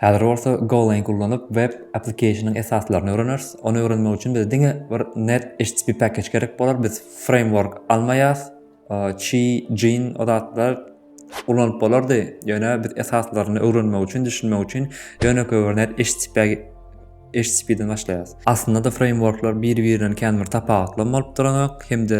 Häzir bolsa Golang ullanyp web applikationyň esaslaryny öwreneris. Ony öwrenmek üçin bize diňe bir net HTTP package gerek bolar. Biz framework almaýas. Chi, Jin o zatlar ulanyp bolardy. Ýöne biz esaslaryny öwrenmek üçin, düşünmek üçin ýönekeý bir net HTTP HTTP-den başlaýarys. Aslynda-da frameworklar biri-birinden kän bir tapawutly hem bolup duranok hem-de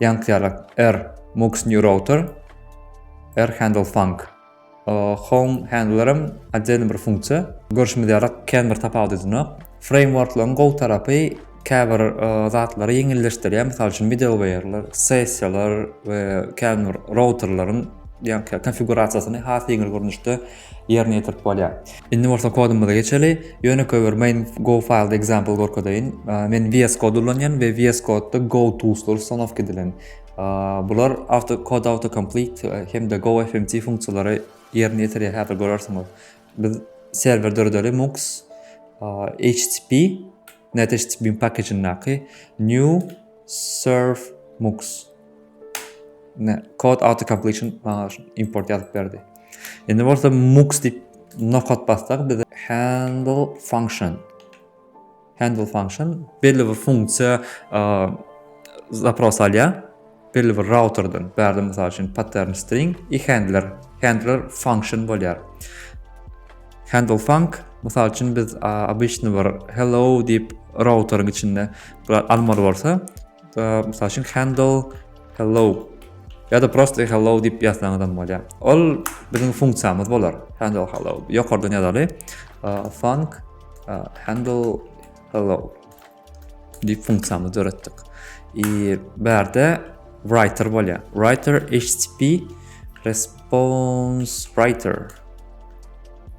Ýankýalak, er, Mux New Router, er Handle Funk. Home Handlerem otdelny bir funksiýa. Görşümiz ýaly, kän bir tapawudydynak. Frameworklaryň gowy tarapy käbir zatlary ýeňilleşdirýär, mysal üçin, middlewaýerler, sessiýalar we kän bir routerleriň ýankýalak konfigurasiýasyny has ýeňil görnüşde Ýerine ýetirip bolýar. Indi bolsa kodumyza geçeli. Ýönekeý bir main go file example görkezeýin. Men VS Code ulanýan we VS Code-da go toolslar ustanowka edilen. Bular auto kod auto complete hem-de go fmt funksiýalary ýerine ýetirýär. Häzir görersiňiz. Biz serwer döredeli mux http net http package-indäki new serve mux. Ne, kod auto completion maňa import ýazyp berdi. Indi bolsa mux diýip nokat bassak bize handle function handle function belli bir funksiýa zapros alýar. Belli bir routerden, bärde mysal üçin pattern string i handler, handler function bolýar. Handle func mysal üçin biz обычный bir hello diýip routeryň içinde almaly bolsa, Mysal üçin handle hello ya da prosto hello diýip ýazsaňyz hem bolýar. Ol biziň funksiýamyz bolar. Handle hello. Ýokardan ýazaly. Func handle hello diýip funksiýamyzy döretdik. I bärde writer bolýar. Writer HTTP response writer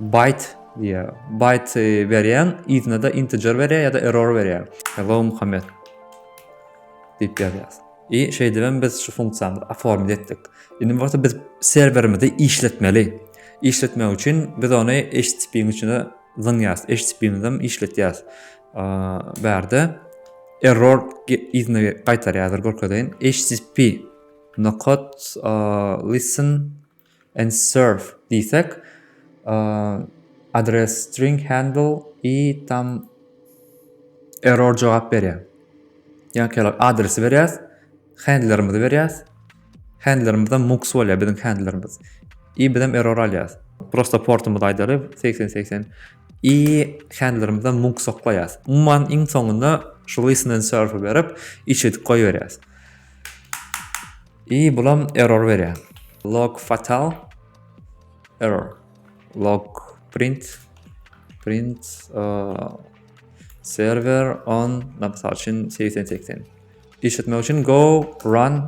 Byte diýýär. Byte berýäň, yzyna-da integer berýär ýa-da error berýär. Hello Muhammet diýip ýazýas. I şeýdibem biz şu funksiýamyzy oformit etdik. Indi bolsa biz serwerimizi işletmeli. Işletmek üçin biz ony HTTP-niň içine zyňýas. HTTP-mizem işletýäs. Bärde error yzyna gaýtarýar, görkezeýin. HTTP nokot listen and serve diýsek, adres string handle i tam error jogap berýär. Ýa-ki adresi berýäs, handlerimizi berýäs. Handlerimiz mux bolýar biziň handlerimiz. I biz hem error alýas. Prosta portumyzy aýdaly 8080 i handlerimize mux soklaýas. Umuman iň soňunda şu listen and serve berip içedik goýberýäs. I bulam error berýär. Log fatal error. Log print print uh, server on napsal üçin 8080. Işletmek üçin go run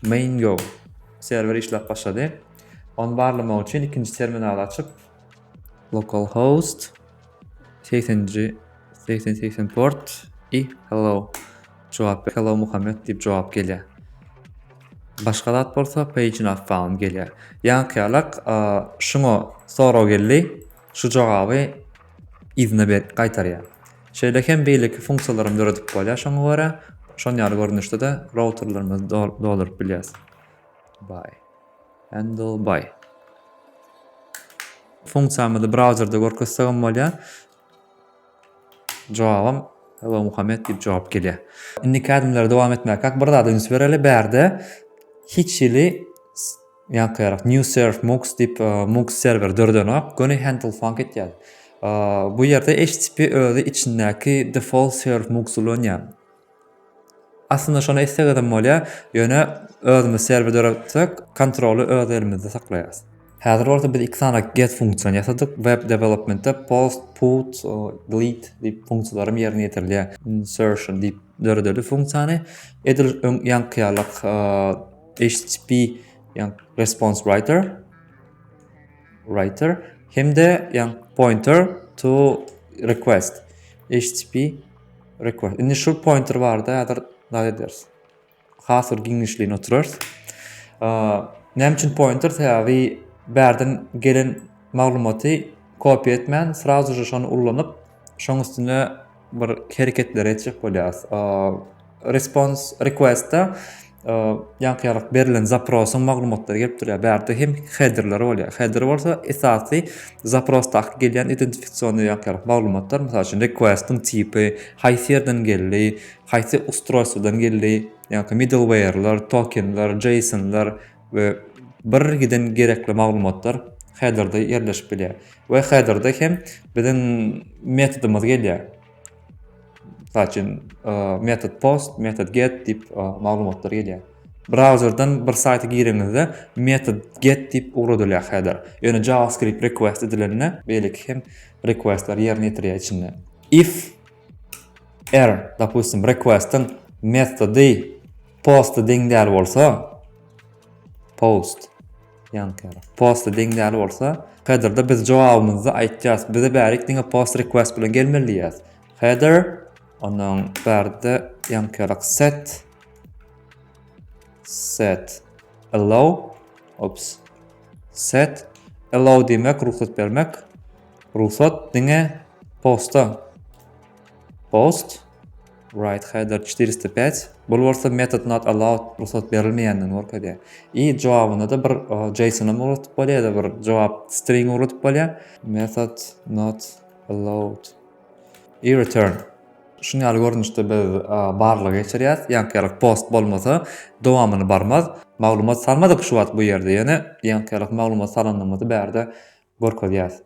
main go. Server işläp başlady. Onu barlamak üçin ikinji terminal açyp localhost 80-nji 80-80 port i hello jogap ber hello Muhammed diýip jogap gelýär. Başga zat bolsa page not found gelýär. Ýaňkyýalak şuňa sorag geldi. Şu jogaby yzyna ber gaýtarýar. Şeýle hem beýleki funksiýalarym döredip bolýar şoňa görä. Şon ýaly görnüşde-de routerlerimizi dolduryp bilýäris. Bye. Handlebar. Funksiýamyzy brauzerde görkezsegem bolýar. Jogabam Hello Muhammed diýip jogap gelýär. Indiki ädimleri dowam etmäkak bir zada üns bereli. Bärde hiç hili ýaňkyrak New Serve Mux diýip e, Mux serwer döredenok. Göni handle funk etýär. E, bu ýerde HTTP özi içindäki default serve Mux ulanýar. Aslynda şony etsegizem bolýar, ýöne özümiz serwer döretseek kontroly öz elimizde saklaýarys. Häzir bolsa biz iki sany get funksiýany ýasadyk, web developmentde post, put, delete diýip funksiýalaram ýerine ýetirilýär, insertion diýip döredeli funksiýany, edil öň ýaňky ýalyk http response writer writer hem-de pointer to request http Record. Indi şu pointer barada häzir nat ederis. Has bir giňişligine oturarys. Näme üçin pointer? Sebäbi bärden gelen maglumaty kopiýa etmän, srazu şony ullanyp, şoň üstüne bir hereketler etjek bolýarys. Respons request-a ýaňky ýaly berlen zaprosyň maglumatlary gelip durýar. Bärde hem headerler bolýar. Header bolsa esasy zaprosdaky gelýän identifikasionny ýaňky ýaly maglumatlar, mysal üçin request-iň tipi, haýsy ýerden geldi, haýsy ustroýstwodan geldi, ýaňky middleware'lar, tokenler, JSON-lar we bir giden gerekli maglumatlar headerde ýerleşip bilýär. We headerde hem biziň metodymyz gelýär. Mysal üçin, method post, method get diýip maglumatlar gelýär. Brauzerden bir saýta gireňizde method get diýip ugradylýar header. Ýöne JavaScript request edilende beýleki hem requestler ýerine ýetirýär içinde. If er, dopustim, requestiň methody post deň däl bolsa, post Ýanker. Posta deň däl bolsa, headerda biz jogabymyzy aýtýas. Bize bärik diňe post request bilen gelmeli diýýäs. Header onuň bärde ýankerlik set set allow ops set allow diýmek rugsat bermek. Rugsat diňe posta post Writeheader çetyr ýüz pät, bul bolsa method not allowed, rugsat berilmeýändigini görkezýär. I jogabynda-da bir JSON-am ugradyp bolýar ýa-da bir jogap string ugradyp bolýar. Method not allowed. I return. Şuny ýaly görnüşde biz barlag geçirýäs, ýaňkyýalyk post bolmasa dowamyny barmaz. Maglumat salmadyk şu wagt bu ýerde ýene ýaňkyýalyk maglumat salandygymy-dy bärde görkezýäs.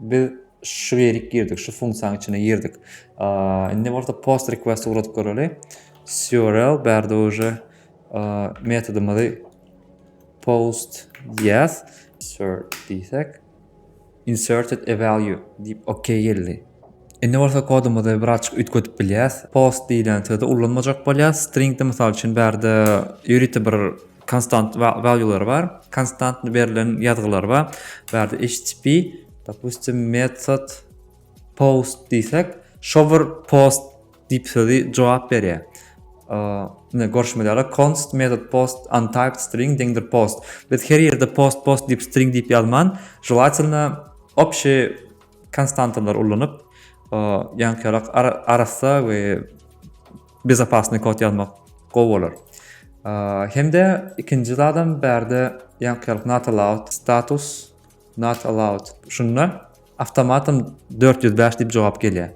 Biz şu ýerik girdik, şu funksiýanyň içine girdik. Indi bolsa post request ugradyp göreli. Surl bärde uje metodymyzy post yes insert diýsek inserted a value diýip OK geldi. Indi bolsa kodumyzy birazçyk üýtgedip bilýäs. Post diýlen sözi ulanmajak bolýas. Stringde mysal üçin bärde ýörite bir Konstant valýular bar. Konstant berlen ýazgylar bar. Bu ýerde HTTP dopustim method post diýsek, shower post diýip sözi jogap berýär. Ine görşümiz ýaly const method post untyped string deňdir post. Biz her ýerde post post diýip string diýip ýazman, želatelno obşeý konstantalary ullanyp, ýaňky ýalak arassa we bezopasnyý kod ýazmak gowy bolar. Hem-de ikinji zadam bärde ýaňkyýalyk not allowed status not allowed şunda awtomatam dört ýüz bäş diýip jogap gelýär.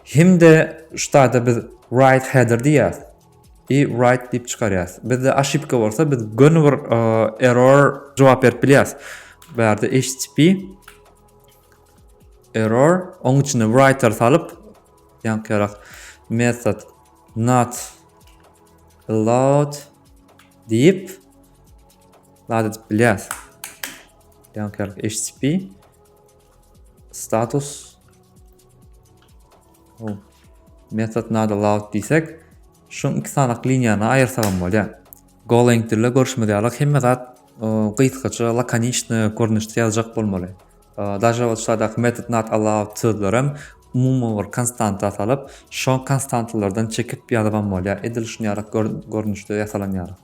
Hem-de şu taýda biz write header diýýäs i write diýip çykarýas. Bizde oşipka bolsa biz göni bir error jogap berip bilýäs. Bärde http Error. Oň içine writer salyp, ýaňkyrak method not allowed diýip zat edip bilýäs. Ýaňkyrak HTTP status method not allowed diýsek, Şoň iki sanak liniýany aýyrsagam bolýar. Golang dilde görşümiz ýaly hemme zat gysgaça, lakoniçny görnüşde ýazjak bolmaly. Daže ol şaýdaky metod not allowed sözlerem umumy bir konstanta salyp, şo konstantalardan çekip ýazybam bolýar. Edil şuny ýaly görnüşde ýasalan ýaly.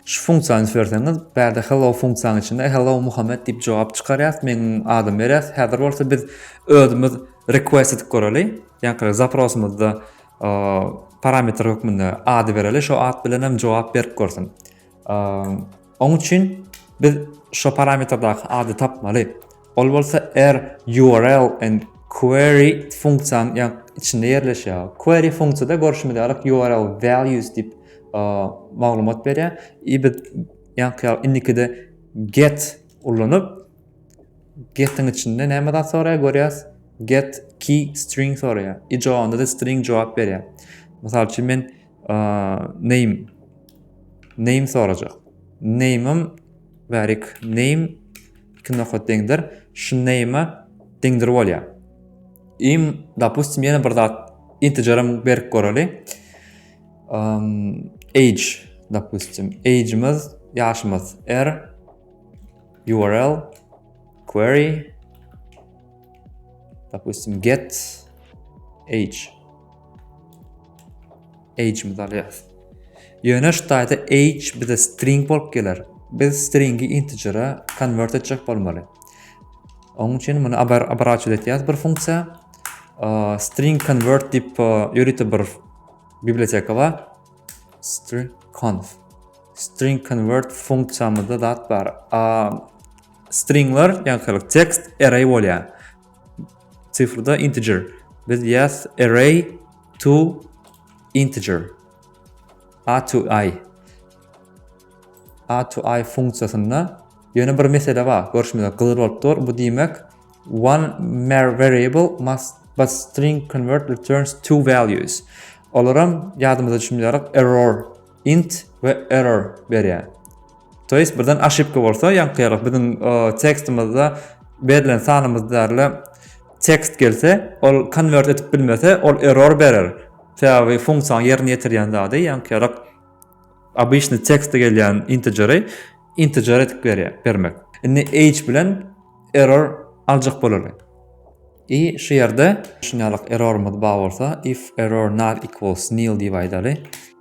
Şu funksiýany üfleseňiz, bärde hello funksiýanyň içinde hello Muhammet diýip jogap çykarýas, meniň adymy berýas. Häzir bolsa biz özümiz request edip göreli. Ýaňky zaprosymyzda parametr hökmünde ady bereli, şo at bilen hem jogap berip görsün. Oň üçin biz şo parametrdäki ady tapmaly. Ol bolsa er URL and query funksiýanyň ýa içinde ýerleşýär. Query funksiýada görşümiz ýaly URL values diýip maglumat berýär. I biz ýaňky ýaly indikide get ulanyp getiň içinde näme zat soraýar görýäs. Get key string soraýar. I jogabynda da string jogap berýär. Mysal üçin men name name sorajak. Name-im bärik name iki nokat deňdir. Şu name-e deňdir bolýar. Im dopustim ýene bir zat integerim berip göreli. Age dopustim. Age-imiz ýaşymyz r url query dopustim get age Age-myzy alýarys. Ýöne şu taýda age bize string bolup geler. Biz stringi integere konwert etjek bolmaly. Onuň üçin muny abraçil etýäs bir funksiýa. String convert diýip ýörite bir biblioteka bar. String conf. String convert funksiýamyzda zat bar. Stringler, ýagşylyk tekst array bolýar. Sifrda integer. Biz ýaz array to integer. A to i. A to i funksiýasynda ýöne bir mesele bar. Görşümize gyzyl bolup dur. Bu diýmek one mer variable must but string convert returns two values. Olaram ýadymyza düşmeli error int we error berýär. To jest birden aşypka bolsa ýaňkyýarlyk biziň tekstimizde berlen sanymyz däle tekst gelse ol konwert edip bilmese ol error berer. Sebäbi funksiýa ýerine ýetirýän zady ýaňkyýarlyk obýşny tekste gelýän integeri integer edip berýär bermek. Indi age bilen error aljak bolaly. I şu ýerde şunýarlyk errorymyz bar bolsa if error not equals nil diýip aýdaly.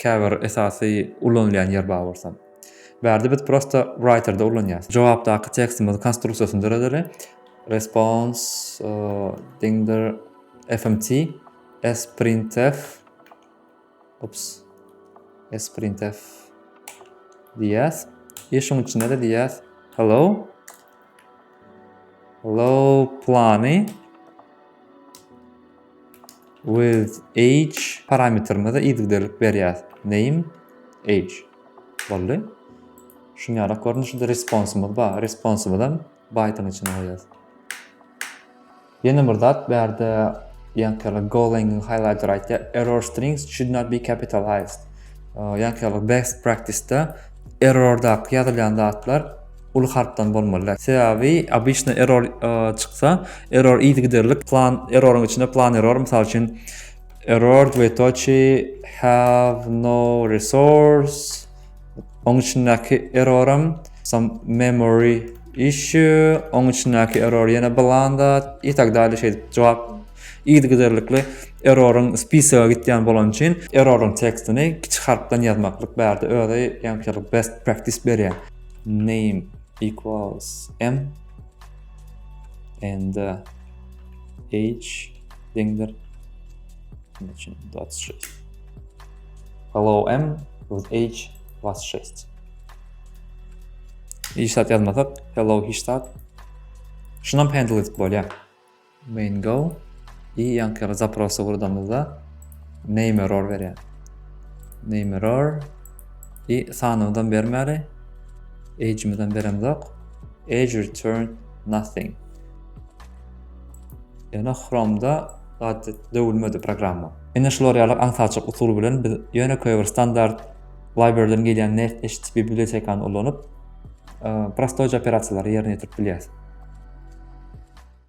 Käbir esasy ulanylýan ýer bar bolsa. Bärde biz prosta writer-da ulanýas. Jogapdaky tekstimizi konstruksiýasyny döredeli. Response deňdir fmt sprintf ups sprintf diýýäs. I şuň içinde-de diýýäs hello hello plany With age parametrimize yzygiderlik berýäs. Name age. Boldy. Şuny ýalak görnüşde responsymyz bar. Responsymyzy hem byte-yň içine goýýas. Ýene bir zat bärde ýankyýalak Golang highlighter aýtýar, error strings should not be capitalized. Ýankyýalak best practice-de Errordaky ýazylýan zatlar uly harpdan bolmaly däl. Sebäbi obyçny error çyksa, error yzygiderlik plan erroryň içinde plan error mysal üçin error dwetoçi have no resource oň içindäki erroram some memory issue oň içindäki error ýene bilan zat i tak däli şeýdip jogap Yzygiderlikli erroryň spisigi gitýän bolany üçin erroryň tekstini kiçi harpdan ýazmaklyk bärde özi ýaňkylyk best practice berýär. Name equals m and h deňdir. Näçe? 26. Hello m with h 26. Hiç zat ýazmasak, hello hiç zat. Şunam handle edip bolýar. Main go. I ýaňky zaprosy gurdamyzda name error berýär. Name error. I sanymyzam bermäli. Age'imizem beremzok. Age return nothing. Ýöne Chrome'da zat döwülmedi programma. Ine şular ýaly aňsaçyk usul bilen biz ýöne köýe bir standart librarydan gelýän nest HTTP bibliotekany ulanyp prostoýja operasiýalary ýerine ýetirip bilýäris.